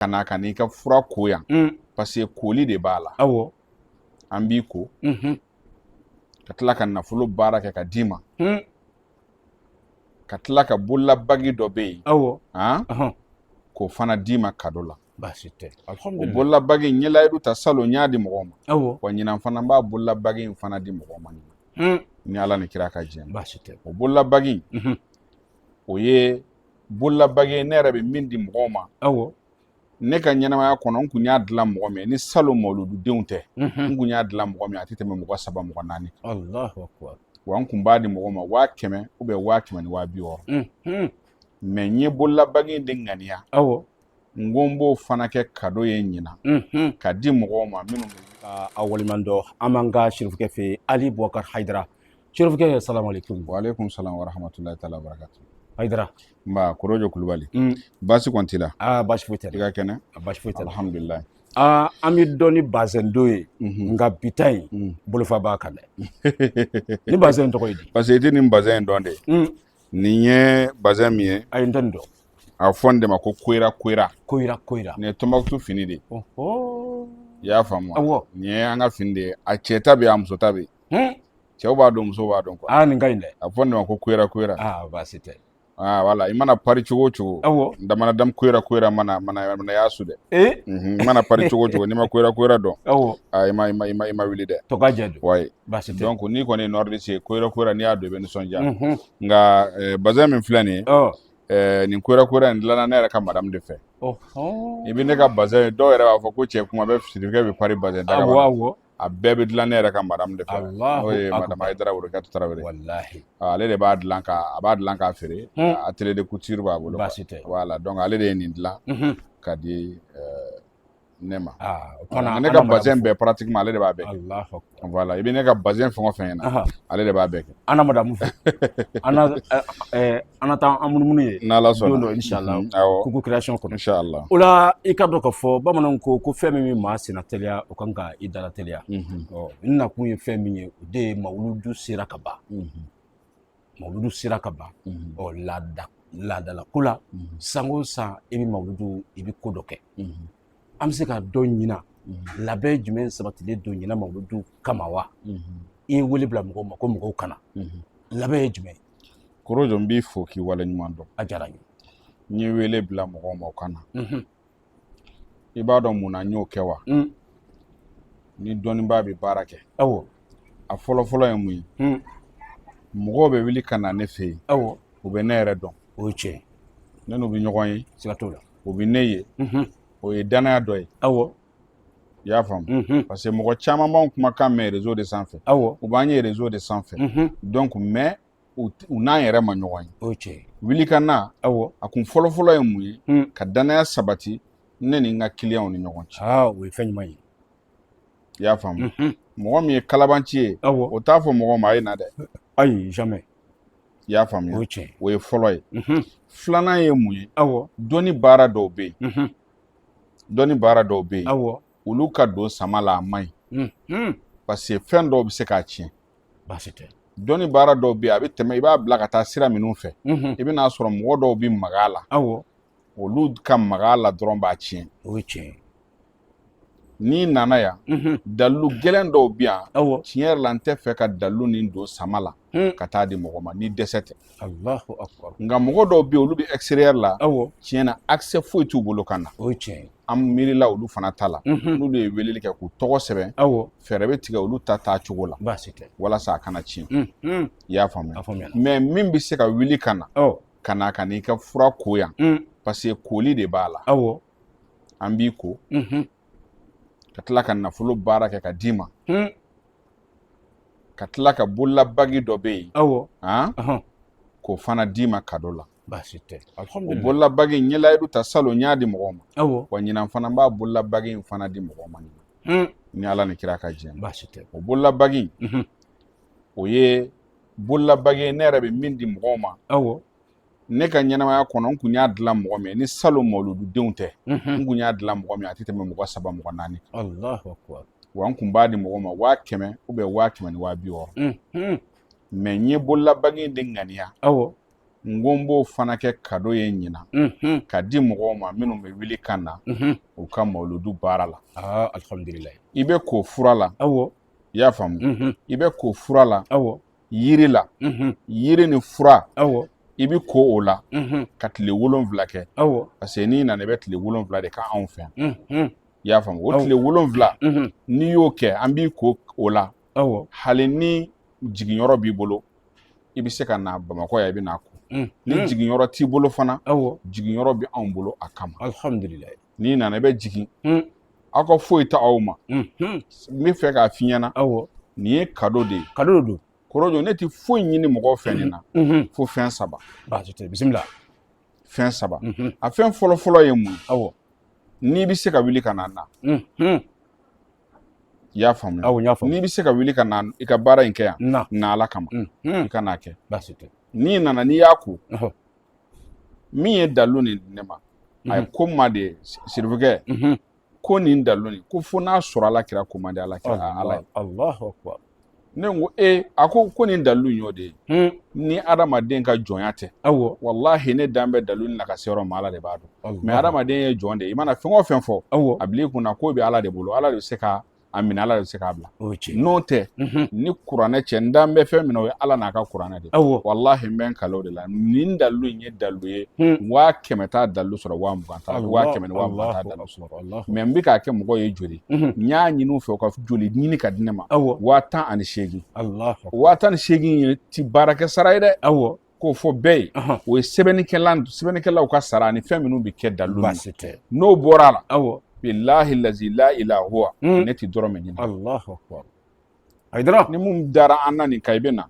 ka na ka n'i ka fura ko yan paseke koli de b'a la awɔ an b'i ko ka tila ka nafolo baara kɛ ka d'i ma ka tila ka bololabagi dɔ bɛ yen awɔ k'o fana d'i ma kado la baasi tɛ o bololabagi n ye layidu ta salon n y'a di mɔgɔw ma awɔ wa ɲinan fana n b'a bololabagi in fana di mɔgɔw ma ɲinan ni ala ni kira ka jɛn baasi tɛ o bololabagi o ye bololabagi ne yɛrɛ bɛ min di mɔgɔw ma awɔ ne ka ɲɛnamaya kɔnɔ n tun y'a dilan mɔgɔ min ni salon mawuludu denw tɛ n tun y'a dilan mɔgɔ min a tɛ tɛmɛ mɔgɔ saba mɔgɔ naani wa n tun b'a di mɔgɔ ma waa kɛmɛ ou bien waa kɛmɛ ni waa bi wɔɔrɔ mais n ye bololabagi de ŋaniya awɔ n ko n b'o fana kɛ kado ye ɲinan ka di mɔgɔw ma minnu ka a waliman dɔ an b'an ka sirifukɛ fɛ yen ali bubakar hayidara sirifukɛ salamaleykum waaleykum salam warahmatulahi taala barakatu hayidara nba korojo kulubali mm. baasi kɔni t'i la aa baasi foyi tɛ i ka kɛnɛ a baasi foyi tɛ alhamdulilayi aa an b'i dɔn ni bazɛn don ye mhm. nka bi ta in mm. bolofa b'a kan dɛ nin bazɛn tɔgɔ ye di parce que n tɛ nin bazɛn in dɔn dɛ mm. Nin ye bazin min ye ayi n tɛ nin dɔn a bɛ fɔ nin de ma ko koyira koyira koyira koyira nin ye tɔnbukutu fini de ye ɔhɔ i y'a faamu wa awɔ nin ye an ka fini de ye a cɛ ta bɛ yen a muso ta bɛ yen hun cɛw b'a don musow b'a don kuwa aa nin ka ɲi dɛ a bɛ fɔ nin de ma ko koyira koyira aa baasi tɛ aa wala i mana pari cogo o cogo awɔ n damana damu koyira koyira mana mana mana y'a su dɛ ee Mhm, i mana pari cogo o cogo n'i ma koyira koyira don awɔ aa i ma i ma i ma i ma wuli dɛ tɔka jɛ don wayi baasi tɛ donc n'i kɔni ye nordiste ye koyira koyira n'i y'a don i bɛ nisɔndiya mhm. nka eh, bazɛn min filɛ nin ye oh. eh, nin koyira koyira in dilanna ne yɛrɛ ka madamu de fɛ oh, oh. i bɛ ne ka bazɛn ye dɔw yɛrɛ b'a fɔ ko cɛ kuma bɛɛ sirifukɛ bɛ pari bazɛn daga la a bɛɛ bɛ dilan ne yɛrɛ ka madamu de fɛ n'o ye madamu hayidara worokiyatu tarawele ah, ale de b'a dilan ka a b'a dilan k'a feere hmm. atelier de couture b'a bolo wala donc ale de ye nin dilan mhm. ka di eh, ne ma ne ka bazɛn bɛɛ pratiquement ale de b'a bɛɛ kɛ wala i bɛ ne ka bazɛn fɛn o fɛn ye n na ale de b'a bɛɛ kɛ an na madamu fɛ an na taa an munumunu yen n'ala sɔnna don dɔ insala kuku création kɔnɔ insala o la i k'a dɔn ka fɔ bamananw ko ko fɛn min bɛ maa senna teliya o kan ka i dala teliya n nakun ye fɛn min ye o de ye mawuludu sera ka ban mawuludu sera ka ban ɔ laada laadala ko la san o san i bɛ mawuludu i bɛ ko dɔ kɛ an bɛ se k'a dɔn ɲinan labɛn jumɛn sabatilen don ɲinan mawuludu kama wa i ye wele bila mɔgɔw ma ko mɔgɔw ka na labɛn ye jumɛn ye korojo n b'i fo k'i waleɲuman dɔn a diyara n ye n ye wele bila mɔgɔw ma u ka na i b'a dɔn mun na n y'o kɛ wa mm. ni dɔnnibaa bɛ baara kɛ awɔ a fɔlɔfɔlɔ ye mun ye mm. mɔgɔw bɛ wuli ka na ne fɛ yen awɔ u bɛ ne yɛrɛ dɔn o ye tiɲɛ ne n'u bɛ ɲɔgɔn ye siga t'o la u bɛ ne ye mm-hmm. o ye danaya dɔ ye awɔ i y'a faamu mm-hmm. parce que mɔgɔ caman b'anw kumakan mɛn réseau de sanfɛ awɔ u b'an ye réseau de sanfɛ mm-hmm. donc mais u n'an yɛrɛ ma ɲɔgɔn ye o ye tiɲɛ ye wuli ka na awɔ a kun fɔlɔfɔlɔ ye mun ye Hmm. ka danaya sabati ne ni n ka kiliyanw ni ɲɔgɔn cɛ aa o ye fɛn ɲuman ye i y'a faamu Mhm. mɔgɔ min ye kalabanci ye awɔ o t'a fɔ mɔgɔ ma a ye na dɛ ayi jamais i y'a faamuya o ye tiɲɛ ye o ye fɔlɔ ye Mhm. filanan ye mun ye awɔ dɔnni baara dɔw bɛ yen Mhm. dɔnni baara dɔw bɛ yen awɔ olu ka don sama la a man ɲi Mhm. parce que fɛn dɔw bɛ se k'a tiɲɛ baasi tɛ dɔnni baara dɔw bɛ yen a bɛ tɛmɛ i b'a bila ka taa sira minnu fɛ i bɛna a sɔrɔ mɔgɔ dɔw bɛ maga a la awɔ olu ka maga a la dɔrɔn b'a tiɲɛ o ye tiɲɛ ye n'i nana yan dalilu gɛlɛn dɔw bɛ yan awɔ tiɲɛ yɛrɛ la n tɛ fɛ ka dalilu nin don sama la Hmm. ka taa di mɔgɔ ma ni dɛsɛ tɛ Allahu akbar nka mɔgɔ dɔw bɛ yen olu bɛ extérieur la awɔ tiɲɛ na accès foyi t'u bolo ka na o ye tiɲɛ ye an miirila olu fana ta la n'olu ye weleli kɛ k'u tɔgɔ sɛbɛn fɛɛrɛ bɛ tigɛ olu ta taa cogo la baasi tɛ walasa a kana tiɲɛ i y'a faamuya mais min bɛ se ka wuli ka na ka na ka n'i ka fura ko yan parce que koli de b'a la an b'i ko ka tila ka nafolo baara kɛ ka d'i ma ka tila ka bololabagi dɔ bɛ yen k'o fana d'i ma kado la baasi tɛ alihamudulila o bololabagi n ye layidu ta salon n y'a di mɔgɔw ma awɔ wa ɲinan fana n b'a bololabagi in fana di mɔgɔw ma ɲinan ni ala ni kira ka jɛn baasi tɛ o bololabagi in o ye bololabagi ye ne yɛrɛ bɛ min di mɔgɔw ma awɔ ne ka ɲɛnamaya kɔnɔ n kun y'a dilan mɔgɔ min ni salon mawulududenw tɛ n kun y'a dilan mɔgɔ min a tɛ tɛmɛ mɔgɔ saba mɔgɔ naani Allahu akbar wa n kun b'a di mɔgɔ ma waa kɛmɛ ou bien waa kɛmɛ ni waa bi wɔɔrɔ mais n ye bololabagi in de ŋaniya awɔ n ko n b'o fana kɛ kado ye ɲinan ka di mɔgɔw ma minnu bɛ wuli ka na u ka mawuludu baara la alihamudulila i bɛ ko fura la i y'a faamu i bɛ ko fura la yiri la yiri ni fura i bɛ ko o la ka tile wolonwula kɛ parce que n'i nana i bɛ tile wolonwula de kɛ anw fɛ yan i y'a faamu o tile wolonwula n'i y'o kɛ an b'i ko o la hali ni jiginyɔrɔ b'i bolo i bɛ se ka na bamakɔ yan i bɛ n'a ko mm, ni mm. jiginyɔrɔ t'i bolo fana jiginyɔrɔ bɛ anw bolo a kama alihamudulila n'i nana i bɛ jigin mm. aw ka foyi t'aw ma n bɛ fɛ k'a f'i ɲɛna nin ye kado de ye kado don korojo ne tɛ foyi ɲini mɔgɔw fɛ nin na fo fɛn saba bisimila fɛn saba mm-hmm. a fɛn fɔlɔfɔlɔ ye mun ye n'i bɛ se ka wuli ka na na I y'a faamu awɔ n y'a faamu n'i bɛ se ka wuli ka na i ka baara in kɛ yan na ala kama i ka n'a kɛ baasi tɛ n'i nana n'i y'a ko min ye dalilu nin ne ma a ye ko n ma de sirifukɛ ko nin dalilu nin ko fo n'a sɔrɔ ala kira ko man di ala kira ala ye ne ko e a ko ko nin dalilu in y'o de ye hmm. ni adamaden ka jɔnya tɛ awɔ walahi ne dan bɛ dalilu nin na ka se yɔrɔ ma ala de b'a dɔn mɛ adamaden ye jɔn de ye i mana fɛn o fɛn fɔ awɔ a bil'i kunna k'o bɛ ala de bolo ala de bɛ se ka a minɛ ala de bɛ se k'a bila n'o tɛ mhm. ni kuranɛ cɛ n dan bɛ fɛn min na o ye ala n'a ka kuranɛ de awɔ walahi n bɛ n kale o de la nin dalilu in ye dalilu ye hmm. waa kɛmɛ t'a dalilu sɔrɔ waa mugan t'a waa kɛmɛ ni waa mugan t'a dalilu sɔrɔ mɛ n bɛ k'a kɛ mɔgɔw ye joli n y'a ɲini u fɛ u ka joli ɲini ka di ne ma waa tan ani seegin waa tan ni seegin ye ti baarakɛ sara ye dɛ awɔ k'o fɔ bɛɛ ye o ye sɛbɛnnikɛla sɛbɛnnikɛlaw ka sara ani fɛn minnu bɛ kɛ dalilu n'o bɔra a la awɔ bilahi lazi la ila huwa ne ti dɔrɔmɛ ɲini ayi dɔrɔn ni mun dara an na nin ka i bɛ na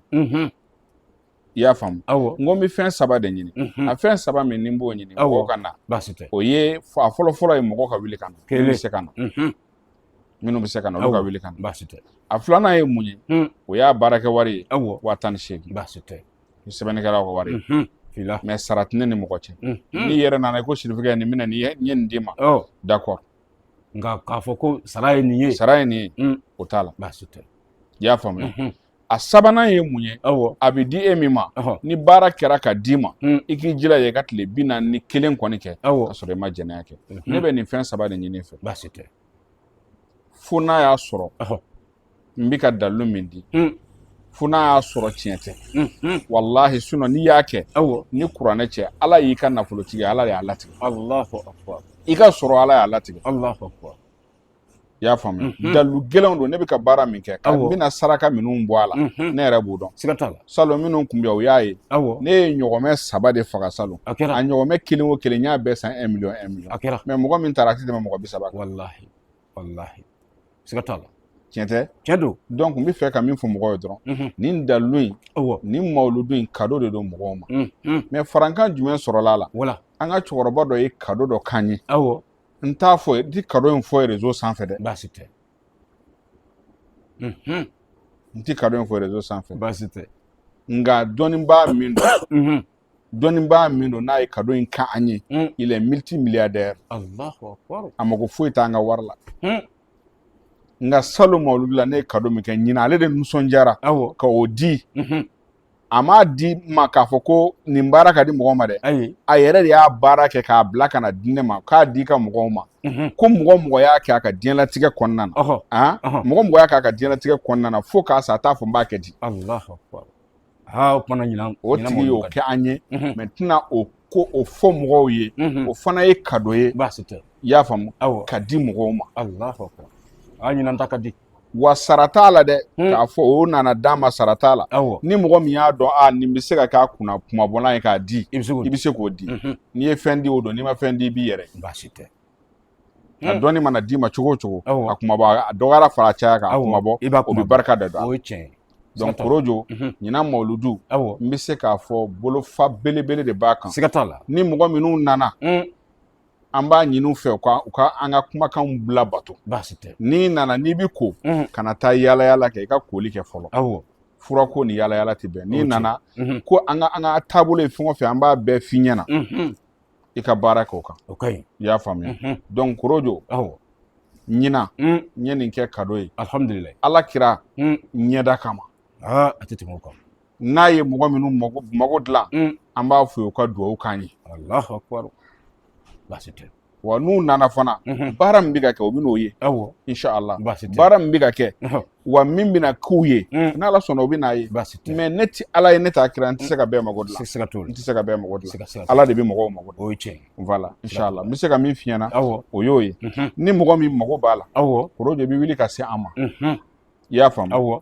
i y'a faamu awɔ n ko n bɛ fɛn saba de ɲini a fɛn saba min ni n b'o ɲini mɔgɔw ka na baasi tɛ o ye a fɔlɔfɔlɔ ye mɔgɔ ka wuli ka na minnu bɛ se ka na minnu bɛ se ka na olu ka wuli ka na baasi tɛ a filanan ye mun ye o y'a baarakɛ wari ye awɔ waa tan ni seegin baasi tɛ ni sɛbɛnnikɛlaw ka wari ye fila mɛ sara tɛ ne ni mɔgɔ cɛ n'i yɛrɛ nana i ko sirifukɛ nin minɛ n ye nin d'i ma ɔ d'accord nka k'a fɔ ko sara ye nin ye sara ye nin ye o t'a la baasi tɛ i y'a faamuya a sabanan ye mun ye a bɛ di e min ma ni baara kɛra ka d'i ma hmm. i k'i jilaja i ka tile bi naani ni kelen kɔni kɛ ka sɔrɔ i ma jɛnɛya kɛ hmm. ne bɛ nin fɛn saba de ɲin'i fɛ baasi tɛ fo n'a y'a sɔrɔ n bɛ ka dalilu min di hmm. fo n'a y'a sɔrɔ tiɲɛ tɛ walahi sinɔ n'i y'a kɛ ni kuranɛ cɛ ala y'i ka nafolotigi ala de y'a latigɛ i ka sɔrɔ ala y'a latigɛ i y'a faamuya dalilu gɛlɛnw don ne bɛ ka baara min kɛ ka bɛna saraka minnu bɔ a la ne yɛrɛ b'o dɔn siga t'a la salon minnu kun bɛ u y'a ye ne ye ɲɔgɔmɛ saba de faga salon a kɛra a ɲɔgɔmɛ kelen o kelen n y'a bɛɛ san miliyɔn miliyɔn a kɛra mɛ mɔgɔ min taara a tɛ tɛmɛ mɔgɔ bi saba kan walahi walahi siga t'a la tiɲɛ tɛ tiɲɛ don donc n bɛ fɛ ka min fɔ mɔgɔw ye dɔrɔn nin dalilu in nin mawuludu in kado de don mɔgɔw ma mɛ farankan jumɛn sɔrɔla a la wala an ka cɛkɔrɔba dɔ ye kado dɔ k'an ye awɔ n t'a fɔ n ti kado in fɔ réseau sanfɛ dɛ baasi tɛ n ti kado in fɔ réseau sanfɛ baasi tɛ nka dɔnnibaa min don dɔnnibaa min don n'a ye kado in k'an ye il est multimilliardaire a mago foyi t'an ka wari la nka salon mawuludu la ne ye kado min kɛ ɲinan ale de nisɔndiyara ka o di a m'a di ma k'a fɔ ko nin baara k'a di mɔgɔ ma dɛ ayi a yɛrɛ de y'a baara kɛ k'a bila ka na di ne ma k'a d'i ka mɔgɔw ma ko mɔgɔ o mɔgɔ y'a kɛ a ka diɲɛlatigɛ kɔnɔna na a mɔgɔ o mɔgɔ y'a kɛ a ka diɲɛlatigɛ kɔnɔna na fo k'a sa a t'a fɔ n b'a kɛ di o kumana ɲinan o tigi y'o kɛ an ye mais n tɛna o ko o fɔ mɔgɔw ye o fana ye kado ye i y'a faamu k'a di mɔgɔw ma a ɲinan ta ka di wa sara t'a la dɛ hmm. k'a fɔ o nana d'a ma sara t'a la ni mɔgɔ min y'a dɔn a nin bɛ se ka k'a kunna kunmabɔlan ye k'a di i bɛ se k'o di mhm. n'i ye fɛn di o don n'i ma fɛn di i b'i yɛrɛ baasi tɛ a hmm. dɔnni mana d'i ma cogo o cogo a kunmabɔ a dɔgɔyara fara caya kan a kunmabɔ o bɛ barika da o don donc korojo mhm. ɲinan mawuludu n bɛ se k'a fɔ bolofa belebele de b'a kan siga t'a la ni mɔgɔ minnu nana hmm. an b'a ɲini u fɛ u ka u ka an ka kumakanw bila bato baasi tɛ n'i nana n'i bɛ ko mhm. kana taa yaala yaala kɛ i ka koli kɛ fɔlɔ awɔ furako ni yaala yaala tɛ bɛn n'i nana mhm. ko an ka an ka taabolo ye fɛn o fɛn an b'a bɛɛ f'i ɲɛna mhm. i ka baara kɛ o kan o ka ɲi i y'a faamuya donc korojo awɔ ɲinan n ye nin kɛ kado ye alhamdulilayi ala kira ɲɛda kama a tɛ tɛmɛ o kan n'a ye mɔgɔ minnu mago mago dilan mm. an b'a fɔ u ka dugawu k'an ye alahu akbar baasi tɛ wa n'u nana fana mhm. baara min bɛ ka kɛ o bɛn'o ye awɔ inshallah baasi tɛ baara min bɛ ka kɛ wa min bɛna k'u ye mm. n'ala sɔnna o bɛn'a ye baasi tɛ mais ne tɛ ala ye ne t'a kira n tɛ se ka bɛɛ mago dilan siga t'o la n tɛ se ka bɛɛ mago dilan ala de bɛ mɔgɔw mago dilan o ye tiɲɛ ye voilà inshallah n bɛ se ka min f'i ɲɛna awɔ o y'o ye mhm. ni mɔgɔ min mago b'a la awɔ korojo bɛ wuli ka se an ma mhm. i y'a faamu awɔ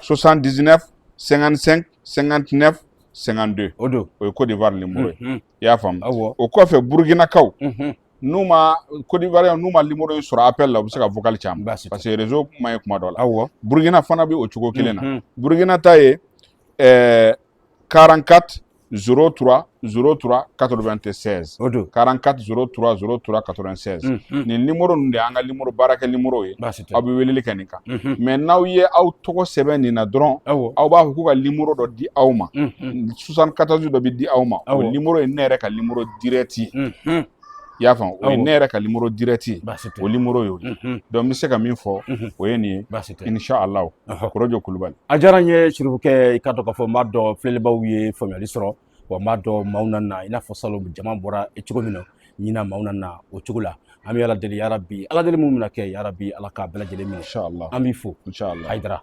79 55 59 52 o don o ye Côte d'Ivoire nimoro ye unhun i y'a faamu awɔ o kɔfɛ Burkinakaw unhun n'u ma Côte d'Ivoire n'u ma nimoro in sɔrɔ appel la u bɛ se ka vocal ci an ma baasi tɛ parce que réseau man ɲi kuma dɔ la awɔ Burkina fana bɛ o cogo kelen na unhun Burkina ta ye ɛɛ 44 03 03 96 o don 44 03 03 96 unhun nin nimoro ninnu de y'an ka nimoro baarakɛ nimoro ye baasi tɛ aw bɛ weleli kɛ nin kan unhun mais n'aw ye aw tɔgɔ sɛbɛn nin na dɔrɔn awɔ aw b'a fɔ k'u ka nimoro dɔ di aw ma unhun 74 dɔ bɛ di aw ma o Awɔ. nimoro ye ne yɛrɛ ka nimoro direct ye unhun i y'a faamu o ye ne yɛrɛ ka nimoro direct ye o nimoro y'o ye donc n bɛ se ka min fɔ o ye nin ye inshallah kɔrɔjɔ kulubali a diyara n ye serifukɛ i k'a dɔn k'a fɔ n b'a dɔn filɛlibaaw ye faamuyali sɔrɔ wa n b'a dɔn maaw na na i n'a fɔ salon jama bɔra cogo min na ɲina maaw na na o cogo la an bɛ ala deli yarabi ala deli minnu bɛna kɛ yarabi ala k'a bɛɛ lajɛlen minɛ an b'i fo hayidara